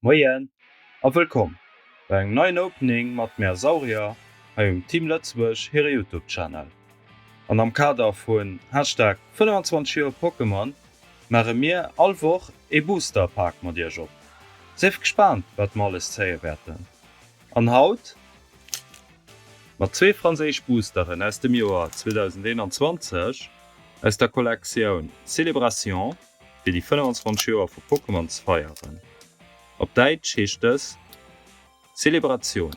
Moien a wëllkomm bei engem neien Opening mat Mär Saurier hei um Team Lëtzebuerg hire Youtube Channel. An am Kader vun Hashtag 25 Joer Pokémon maache mir all Woch ee Booster Pak mat iech op. Sief gespaant wat mer alles zéie wäerten. An haut? Mat zwee franséisch Boosteren aus dem Joer 2021 aus der Kollektioun Célébration, fir déi 25 Joer vu Pokémon ze feieren. Op Däitsch heescht dës Celebration.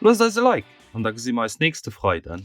Loosst eis e Like an da gesi mer eis nächste Freiden.